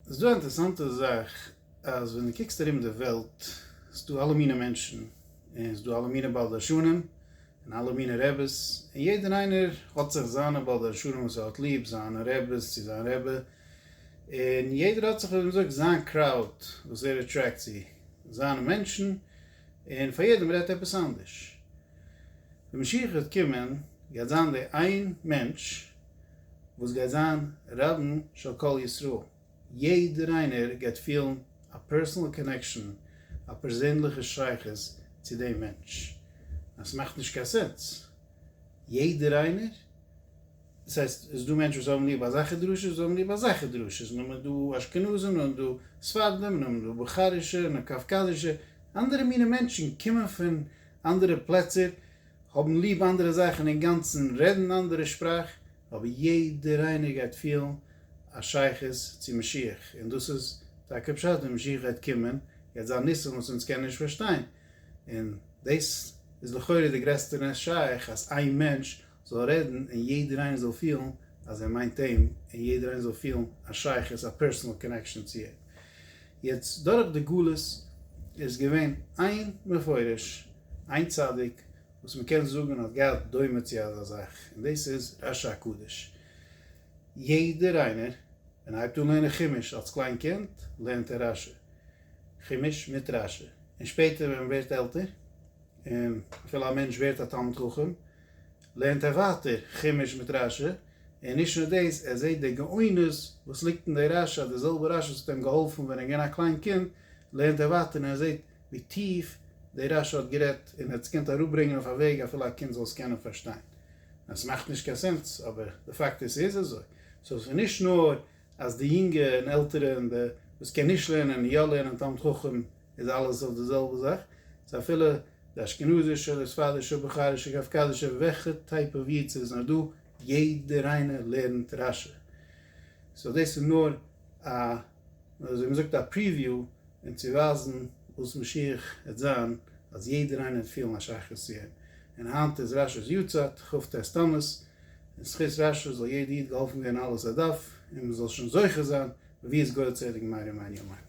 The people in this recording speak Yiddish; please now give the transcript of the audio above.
ס'איז דא א אינטערעסאנטע זאך אז ווען דו קוקסט ארום די וועלט איז דא אלע מיני מענטשן און ס'איז דא אלע מיני בעל דרשנים און אלע מיני רעבעס און יעדער איינער האט זיך זיינע בעל דרשנים וואס ער האט ליב, זיינע רעבעס צו זיין רעבע, און יעדער האט זיך ווי מ'זאגט זיין קראוד וואס ער עטרעקט צו, זיינע מענטשן, און פאר יעדעם רעדט עפעס אנדערש. די משיח וועט קומען גייט זיין די איין מענטש וואס גייט זיין רבן של כל ישראל, יעדער איינער גייט פילן א פערסענעל קאנעקשאן, א פערזענליכע שייכות צו דעם מענטש, אז ס'מאכט נישט קיין סענס, יעדער איינער דאס הייסט, עס איז דא מענטשן וואס האבן ליב אזעלכע דרשות, זיי האבן ליב אזעלכע דרשות, און נאכדעם איז דא אשכנזים, נאכדעם איז דא ספרדים, און נאכדעם איז דא בוכארישע, און נאך קאווקאזישע, אנדערע מיני מענטשן קומען פון אנדערע פלעצער, האבן ליב אנדערע זאכן אינגאנצן, רעדן אנדערע שפראך, אבער יעדער איינער גייט פילן א שייכות צו משיח, און דאס איז טאקע פשט, די משיח גייט קומען, גייט זיין ניסים וואס אונז קענען נישט פארשטיין, און דאס איז לכאורה די גרעסטע נס שייך, אז איין מענטש זאל רעדן און יעדער איינער זאל פילן אז ער מיינט אים און יעדער איינער זאל פילן א שייכות א פערסענעל קאנעקשאן צו אים. יעצט דורך די גלות איז געווען איין מפורש איין צדיק וואס מען קען זאגן האט געהאט דומה צו אזא זאך און דאס איז רשי הקדוש. יעדער איינער ווען ער הייבט אן לערנען חומש אלס קליין קינד לערנט ער רשי, חומש מיט רשי, און שפעטער ווען מען ווערט עלטער און אפילו א מענטש ווערט א תלמיד חכם לערנט ער ווייטער חומש מיט רשי, און נישט נאר דאס, ער זעט די גאונות וואס ליגט אין די רשי, אז די זעלבע רשי וואס האט אים געהאלפן ווען ער איז געווען א קליין קינד, לערנט ער ווייטער און ער זעט ווי טיף די רשי האט גערעדט, און ער האט עס געקענט אראפברענגען אויף א וועג אפילו א קינד זאל עס קענען פארשטיין. עס מאכט נישט קיין סענס, אבער די פאקט איז ס'איז אזוי. סאו ס'איז נישט נאר אז די יונגע און עלטערע און די וואס קען נישט לערנען און יא לערנען תלמיד חכם איז אלעס אויף די זעלבע זאך, ס'איז אפילו. די אשכנזישע אדער ספרדישע אדער בוכארישע קאווקאזישע וועלכע טייפ אוו איד ס'איז נאר דא, יעדער איינער לערנט רש י, סאו דאס איז נאר א וויאזוי מ'זאגט א פריוויו און צו ווייזן וואס משיח העט זיין אז יעדער איינער העט פילן א שייכות צו אים, און היינט איז רש י'ס יארצייט, כ ט תמוז, און זכות רש י זאל יעדער איד געהאלפן ווערן אלעס עד ד' און מ'זאל שוין זוכה זיין ויזכור צדיק מהר י מיין ימיו.